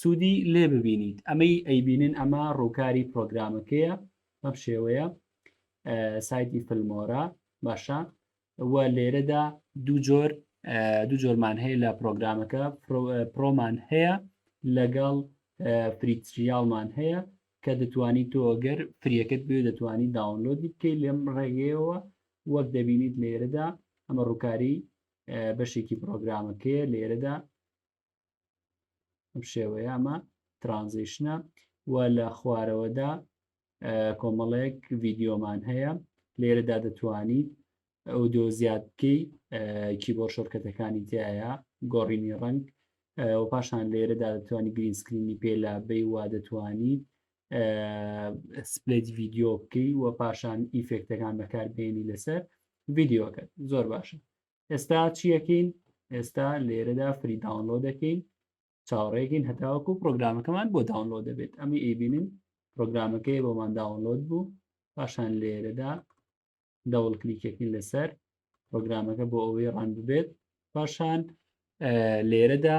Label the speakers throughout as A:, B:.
A: سودی لێ ببینیت ئەمەی ئەیبینن ئەمە ڕوکاری پرۆگرامەکەیە بەم شێوەیە سایتی فلمۆرە باشە و لێرەدا دوو جۆر دوو جۆرمان هەیە لە پرۆگرامەکە پرۆمان هەیە لەگەڵ فریتریالمان هەیە کە دەتوانیت تۆ ئەگەر فریەکەت بێ دەتوانی داونلۆدی بکەیت لەم ڕێگەیەوە وەک دەبینیت لێرەدا ئەمە ڕووکاری بەشێکی پرۆگرامەکەیە لێرەدا ئەم شێوەیە ئەمە ترانزیشنە و لە خوارەوەدا کۆمەڵێک ڤیددیۆمان هەیە لێرەدا دەتوانیت ئەو دۆ زیاد بکەی کی بۆ شۆرکەتەکانی تایە گۆڕینی ڕنگ و پاشان لێرەدا دەتوانانی گرین سکرینی پێلا بی وا دەتوانیت سپلت ڤیددیۆ بکەی و پاشان ئیفێکتەکان بەکاربیێنی لەسەر ڤیددیوەکە زۆر باشە ئێستا چیەکەین ئێستا لێرەدا فری داونلۆ دەکەین چاوەڕێکین هەتاوەکو پرۆگرامەکەمان بۆ داونلۆ دەبێت ئەمی ئەیبینین پرۆگرامەکەی بۆمان داونلۆد بوو پاشان لێرەدا دەوڵ کلیکەکەین لەسەر پرۆگرامەکە بۆ ئەوەی ڕان ببێت پاشان لێرەدا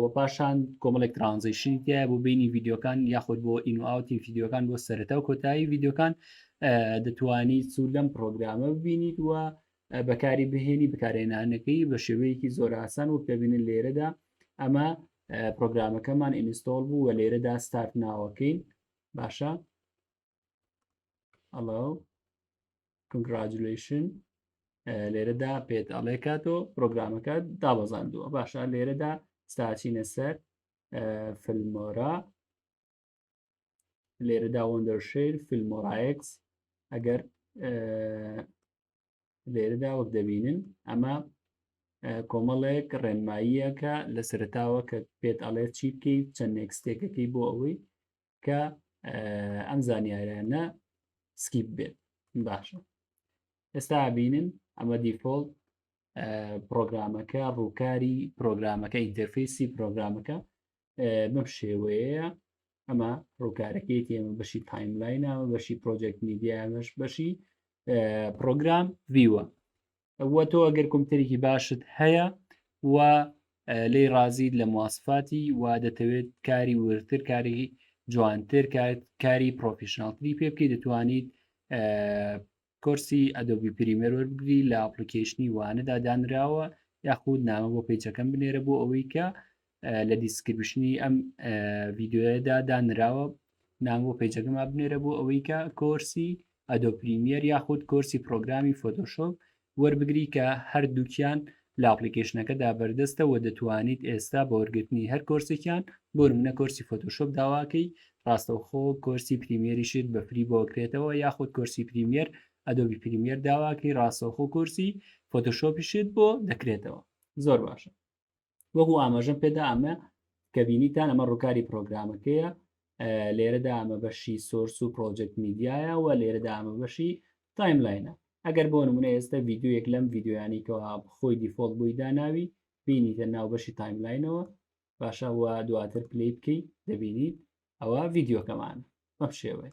A: و پاشان کۆمەڵێک ترانزیشنی تیا بۆ بینی یددیوەکان یاخود بۆ ئینوئاوتی یددیوەکان بۆ سەرەتا و کۆتایی یددیوەکان دەتوانی سوود لەم پرۆگرامە ببینیت وە بەکاری بهێنی بکارێنانەکەی بە شێوەیەکی زۆر ئاسان وەک دەبینن لێرەدا ئەمە پرۆگرامەکەمان ئینستۆل بوو و لێرەدا ستارت ناوەکەین باشە ئەڵا کنگراجلشن لێرەدا پێت ئەڵێ کاتۆ پرۆگرامەکە دابەزاندووە باشە لێرەدا ستاچینە سەر فلمۆرە لێرەدا وەندەرشیر فیلمۆڕایکس ئەگەر لێرەدا وەک دەبینن ئەمە کۆمەڵێک ڕێنماییەکە لە سەرتاوە کە پێت ئەڵێت چی بکەیت چەند نێکستێکەکەی بۆ ئەوەی کە ئەم زانیارانە سکیپ بێت باشە ئێستا بینن ئەمە دیفۆڵ پرۆگرامەکە ڕووکاری پرۆگرامەکە ئینتەرفیسی پرۆگرامەکە بەم شێوەیە ئەمە ڕووکارەکەی تێمە بەشی تایملاینە بەشی پرۆژێکت میدیامەش بەشی پرۆگرام ویوە و تۆ ئەگەر کۆمپیوتەرێکی باشت هەیە و لی ڕازیت لە مواسفاتی و دەتەوێت کاری ورتر کاری جوانتر کاری پرۆفیشنناڵتری پێ بکەیت دەتوانیت کۆرسی ئەدۆبی پریمەر وەرگری لە ئاپلیکیشنی وانەدا دانراوە یاخود نامە بۆ پیچەکەم بنێرە بۆ ئەوەی کە لە دیسکرپشنی ئەم ڤیددیوەدا دانراوە نام بۆ پێجەکەما بنێرە بۆ ئەوەی کە کۆرسی ئەدۆ پریمیەر یاخود کۆرسی پرۆگرامی فۆتۆشۆپ وەربگری کە هەردووکیان لە ئاپلیکیشنەکەدا بەردەستە و دەتوانیت ئێستا بە وەرگرتنی هەر کۆرسێکیان بۆ منە کۆرسی فۆتۆشۆپ داواکەی ڕاستەوخۆ کۆرسی پریمیەریشت بە فری بۆکرێتەوە یاخود کۆرسی پریمیەر ئەدۆبی پریمیەر داواکەی ڕاستەوخۆ کۆرسی فۆتۆشۆپیشت بۆ دەکرێتەوە زۆر باشە وەکو ئاماژەم پێدا ئەمە کە بینیتان ئەمە ڕووکاری پرۆگرامەکەیە لێرەدا ئەمە بەشی سۆرس و پرۆژێک میدیایە و لێرەدا ئەمە بەشی تایملاینە ئەگەر بۆ نمونە ئێستا یددیوەک لەم یددیویانی کەەوە خۆی دیفۆڵ بووی داناوی بینیتە ناو بەشی تایملاینەوە باشە و دواتر پلی بکەیت دەبینیت ئەوە یددیوەکەمان بەم شێوەیە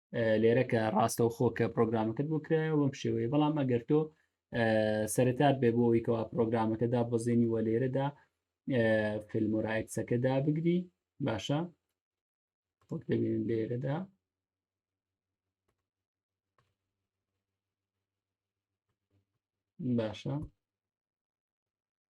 A: لێرە کە ڕاستە و خۆکە پرۆگرامەکەت بۆ کرایە بەم شێوەیە بەڵام ئەگەر تۆ سەرتات بێ بۆ ئەوی کەوا پرۆگرامەکەدا بەزێنی وە لێرەدا فلمۆرایتسەکەدا بگری باشە وەک دەبین لێرەدا باشە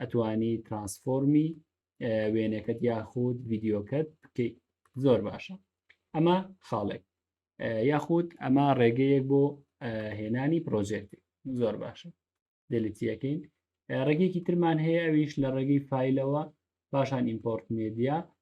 A: ئەتوانی ترانسفۆرمی وێنەکەت یاخود ڤیددیوکەت بکەیت زۆر باشە ئەمە خاڵێک یاخود ئەمە ڕێگەیەک بۆ هێنانی پرۆژێتی زۆر باشە دەلیتیەکەین ڕێگەیەکی ترمان هەیە ئەویش لە ڕێگەی فیلەوە پاشان ئیمپۆرت مدیا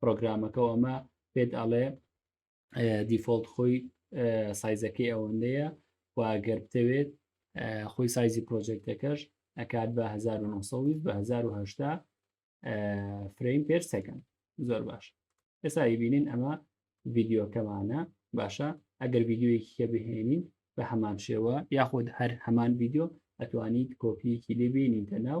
A: پرۆگرامەکە و ئەمە پێت ئەڵێ دیفۆلت خۆی سایزەکەی ئەوەندەیە واگەر بتەوێت خۆی سایزی پرۆژێکتەکەش ئەکات بە 1920 بە 1970 فرەیم پێر سەکەن زۆر باش ئێستا بینین ئەمە ڤیددیوکەمانە باشە ئەگەر ڤیددیویەکی کە بهێنین بە هەمان شێوە یاخود هەر هەمان ڤیددیو ئەتوانیت کۆپیەکی لێبێنیتە ناو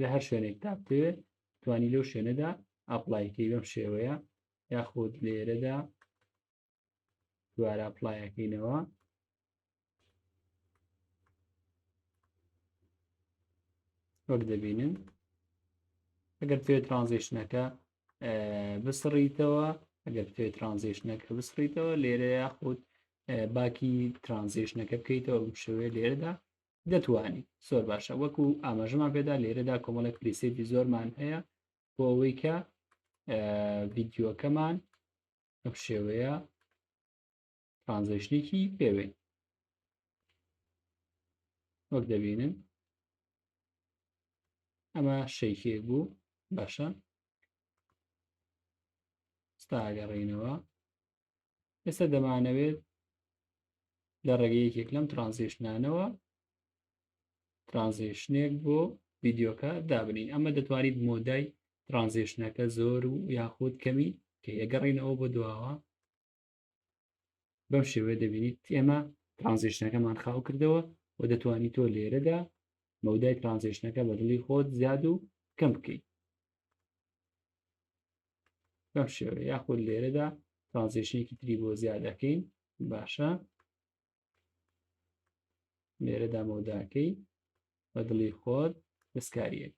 A: لە هەر شوێنێک تا بتەوێت توانی لەو شوێنەدا ئاپلایکەی بەم شێوەیە یاخود لێرەدا دوارە پلایەکەینەوە وەک دەبینن ئەگەر توێ ترانزیشنەکە بسڕیتەوە ئەگەر توێ ترانزیشنەکە بسڕیتەوە لێرە یاخود باکی ترانزیشنەکە بکەیتەوە بشوێ لێرەدا دەتوانی زۆر باشە وەکو ئاماژەمان پێدا لێرەدا کۆمەڵێک پریسێتی زۆرمان هەیە بۆ ئەوەی کە ڤیددیوەکەمان ئەم شێوەیە ترانزیشنێکی پێوێن وەک دەبینن ئەمە شەیکێک بوو باشە ستاگەڕینەوە ئێستا دەمانەوێت لە ڕێگە یەکێک لەم ترانزیشنانەوە ترانزیشنێک بۆ ڤیددیوکە دابنین ئەمە دەتوانیت مۆدای ترانزیشنەکە زۆر و یاخود کەمی کە ئەگەڕینەوە بۆ دواوە بەم شێوێ دەبینیت ئێمە ترانزیشنەکەمان خاو کردەوە و دەتوانیت تۆ لێرەدا مەودای ترانزیشنەکە بە دڵی خۆت زیاد و کەم بکەیت بەم شێوە یاخود لێرەدا ترانزیشنێکی تری بۆ زیاد دەکەین باشە لێرە دامەوداکەی بە دڵی خۆر دەستکاریەک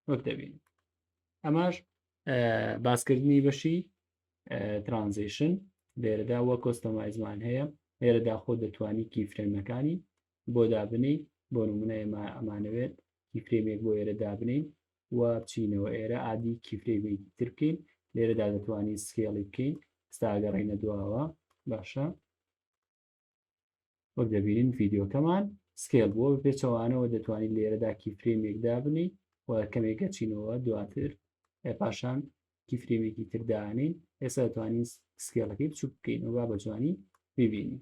A: وەک دەبین ئەماش باسکردنی بەشی ترانزیشن لێرەدا وە کۆستەمایزمان هەیە لێرەدا خۆ دەتوانی کی فرێمەکانی بۆ دابنێی بۆ نمونە ئێمە ئەمانەوێت کیفرەیمێک بۆ ئێرە دابنێین و بچینەوە ئێرە ئادی کیفرەیمێکی تر بکەین لێرەدا دەتوانین سکێڵی بکەین ستاگەڕینە دواوە باشە وەک دەبینین ڤیددیوکەمان سکێل بۆ پێچەوانەوە دەتوانین لێرەدا کیفرەیمێک دابنی و کەمێکە چینەوە دواتر پاشان کیفرێمێکی تردانین ئێستا دەتوانین سکێڵەکەی بچوک بکەین و با بە جوانی ببینین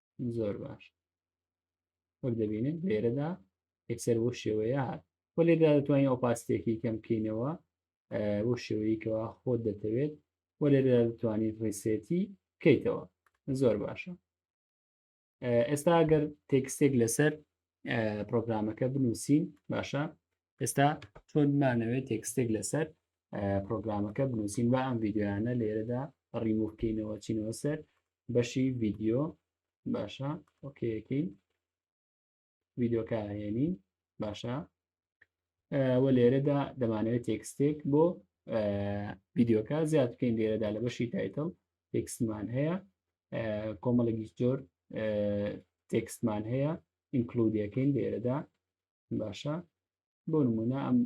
A: زۆر باش وەک دەبینن لێرەدا یەکسەر بۆ شێوەیە هات و لێدا دەتوانین ئەو پاستێکی کەم بکەینەوە بۆ شێوەیەکەوە خۆت دەتەوێت و لێرە دەتوانین ڕیسێتی بکەیتەوە زۆر باشە ئێستا گەر تێکستێک لەسەر پرۆگرامەکە بنووسین باشە ئێستا چۆن مانەوێت تێکستێک لەسەر پرۆگرامەکە بنووسین و ئەم یددیویانە لێرەدا ڕیموکەینەوە چینەوە سەر بەشی ویددیو باشە ئۆکەکەین ویددیوکە هێنین باشە و لێرەدا دەمانەوێت تێکستێک بۆ ویددیوکە زیاد بکەین لێرەدا لە بەشی تایتل تێکسمان هەیە کۆمەڵێکی زۆر تێکستمان هەیە ئینکلودیەکەین لێرەدا باشە بۆ نمونە ئەم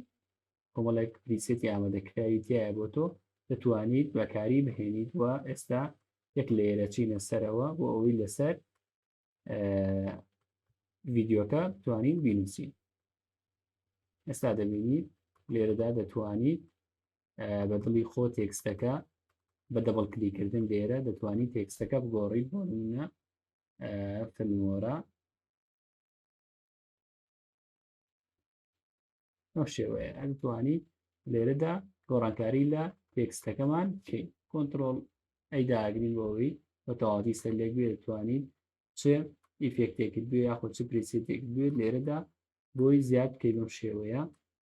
A: کۆمەڵێک پریسێتی ئامادەکراوی تایە بۆ تۆ دەتوانیت بەکاری بهێنیت و ئێستا یەک لێرە چینە سەرەوە بۆ ئەوەی لەسەر ڤیددیوکە توانین بینوسین ئێستا دەبینیت لێرەدا دەتوانیت بە دڵی خۆ تێکستەکە بە دەبڵ کلیکردن لێرە دەتوانیت تێکستەکە بگۆڕیت بۆ منە فەرمۆرە ئەم شێوەیە ئەتوانی لێرەدا گۆڕانکاری لە تێکستەکەمان بکەین کۆنتترۆل ئەیداگرین بۆەوەی بە تەواتی سەر لێک بێت توانین چ ئیفێکتێکت بێ یاخۆ چ پرسێتێک بێت لێرەدا بۆی زیاد بکەی بەم شێوەیە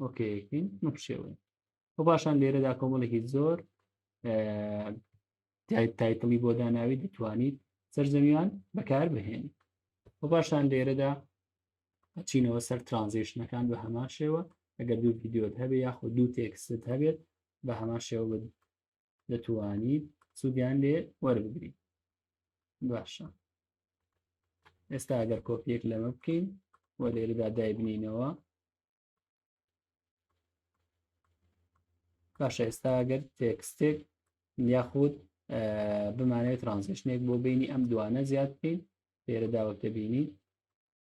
A: ئۆکەکەین نەپشێوین و باشان لێرەدا کۆمەڵێکی زۆر تایتڵی بۆ داناوی دەتوانیت سەرزەمیان بەکار بهێن و باشان لێرەدا چینەوە سەر ترانزیشنەکان بە هەمان شێوە ئەگەر دوو یددیۆت هەبێ یاخۆ دوو تێکست هەبێت بە هەمان شێوە دەتوانیت سوودیان لێ وەربگری باشە ئێستا ئەگەر کۆپیەک لەمە بکەین و لێرەدا دایبنینەوە باشە ئێستا ئەگەر تێکستێک یاخود بمانێت ترانزیشنێک بۆ بینی ئەم دوانە زیاد بکەین لێرە داوەتە بینی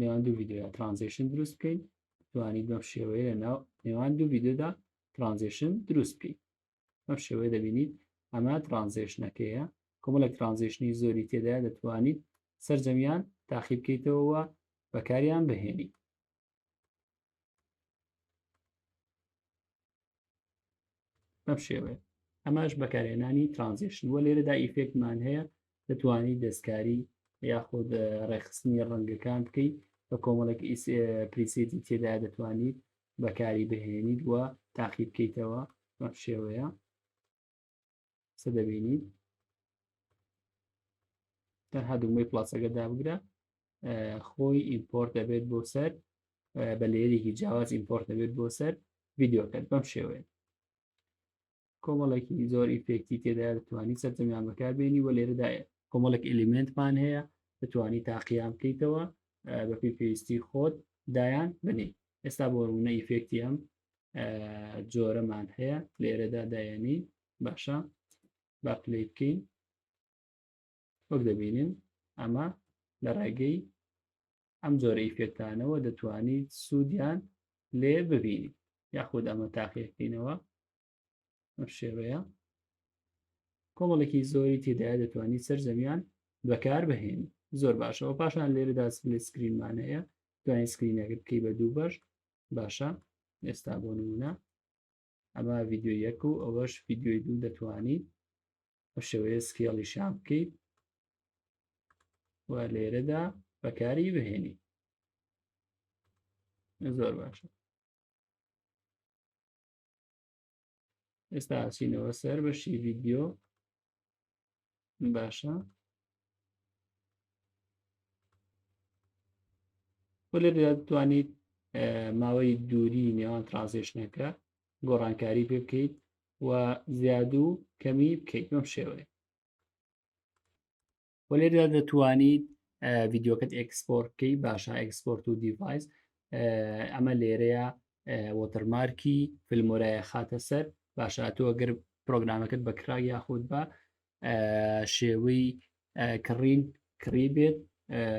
A: نێوان دوو ڤیددیودا ترانزیشن دروست بکەین توانی بەم شێوەیە لە ناو نێوان دوو ڤیددیودا ترانزیشن دروست بکەین بەم شێوەیە دەبینیت ئەمە ترانزیشنەکەیە کۆمەڵێک ترانزیشنی زۆری تێدا دەتوانیت سرجەمیان تاقی بکەیتەوەوە بەکاریان بهێنی بەم شێوەیە ئەماش بەکارهێنانی ترانزیشن وە لێرەدا ئیفێکتمان هەیە دەتوانانی دەستکاری یاخود ڕێخستنی ڕەنگەکان بکەیت بە کۆمەڵێک پریسێتی تێدا دەتوانیت بەکاری بهێنیت وە تاقی بکەیتەوە بەم شێوەیە سە دەبینی تا هەدوومەی پلاسەکە دابگرە خۆی ئیمپۆرت دەبێت بۆ سەر بە لێرێکی جیاواز ئیمپۆرت دەبێت بۆ سەر ڤیددیوکەت بەم شێوەیە کۆمەڵێکی زۆر ئیفێکتی تێدا دەتوانانی سەرجەمیان بەکاربێنی و لێرەدا کۆمەڵێک ئلیمنتمان هەیە دەتوانانی تاقییان بکەیتەوە بەپی پێویستی خۆت دایان بنی ئێستا بۆ ڕوونە ئیفێکتی ئەم جۆرەمان هەیە لێرەدا دایەنی باشە با پلی بکەین وەک دەبینین ئەمە لە ڕێگەی ئەم جۆرە ئیفێکتانەوە دەتوانیت سوودیان لێ ببینی یاخود ئەمە تاقیەکەینەوە ئەم شێوەیە کۆمەڵێکی زۆری تێدایە دەتوانانی سەر زەویان بەکار بهێن زۆر باشەوە پاشان لێرەدا سلێ سکرینمان هەیە دوای سکرینەکە بکەی بە دوو بەش باشە ئێستا بۆ نمونە ئەمە ڤیددیو یەک و ئەوەش ڤیددیوی دوو دەتوانی بە شێوەیە سکێڵی شام بکەیت و لێرەدا بەکاری بهێنی زۆر باشە ئێستا ئاچینەوە سەر بەشی ڤیددیو باشە لێ دەتوانیت ماوەی دووری نێوان ترانزیشنەکە گۆڕانکاری پێ بکەیت و زیاد و کەمی بکەیت بەم شێوەیە و لێردا دەتوانیت ڤیددیوکەت ئەکسپۆرتکەی باشە ئەکسپۆرت و دیڤایس ئەمە لێرەیە وۆتەرمارکی فلمۆرایە خاتە سەر باشە تۆ گەر پرۆگرامەکەت بە کرا یاخود بە شێوەی کڕین کڕی بێت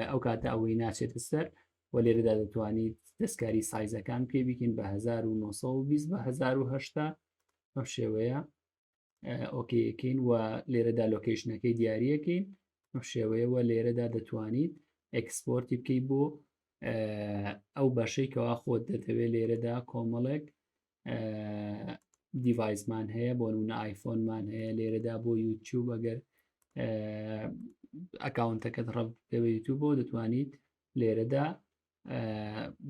A: ئەو کاتە ئەوەی ناچێتە سەر و لێرەدا دەتوانیت دەستکاری سایزەکان پێ بکەین بە 1920 بە 1970 ئەم شێوەیە ئۆکیەکەین و لێرەدا لۆکیشنەکەی دیارەکەین شێوەیەوە لێرەدا دەتوانیت ئەکسپۆرتی بکەی بۆ ئەو بەشەی کەوا خۆت دەتەوێت لێرەدا کۆمەڵێک دیڤایسمان هەیە بۆ نونە ئایفۆنمان هەیە لێرەدا بۆ یوتیوب ئەگەر ئەکاونتەکەت ڕەب دەوێت یوتیوب بۆ دەتوانیت لێرەدا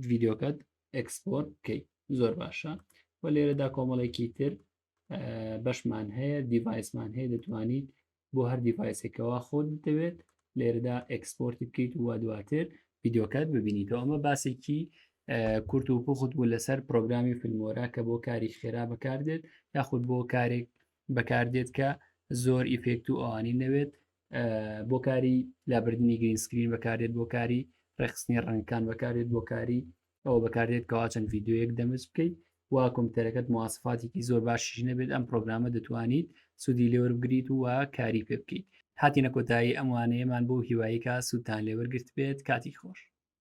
A: ڤیددیوکەت ئەکسپۆرت بکەیت زۆر باشە و لێرەدا کۆمەڵێکی تر بەشمان هەیە دیڤایسمان هەیە دەتوانیت بۆ هەر دیڤایسێکەوە خۆت دەوێت لێرەدا ئەکسپۆرتی بکەیت و دواتر یددیوکات ببینیتەوە ئەمە باسێکی کورت و پوخت بوو لەسەر پرۆگرامی فیلمۆرا کە بۆ کاری خێرا بەکاردێت یاخود بۆ کارێک بەکاردێت کە زۆر ئیفێکت و ئەوانی نەوێت بۆ کاری لابردننی گرینسکرین بەکارێت بۆ کاری ڕێخستنی ڕەنگکان بەکارێت بۆ کاری ئەوە بەکاردێت کەوا چەند ڤیددیوەک دەمز بکەیت وا کۆمپیوتەرەکەت موواسفاتێکی زۆر باشیش نەبێت ئەم پرۆگرامە دەتوانیت سوودی لێوەربگریت و کاری پێ بکەیت هاتیینە کۆتایی ئەموانەیەمان بۆ هیواییکە سوودتان لێوەرگرت بێت کاتی خۆش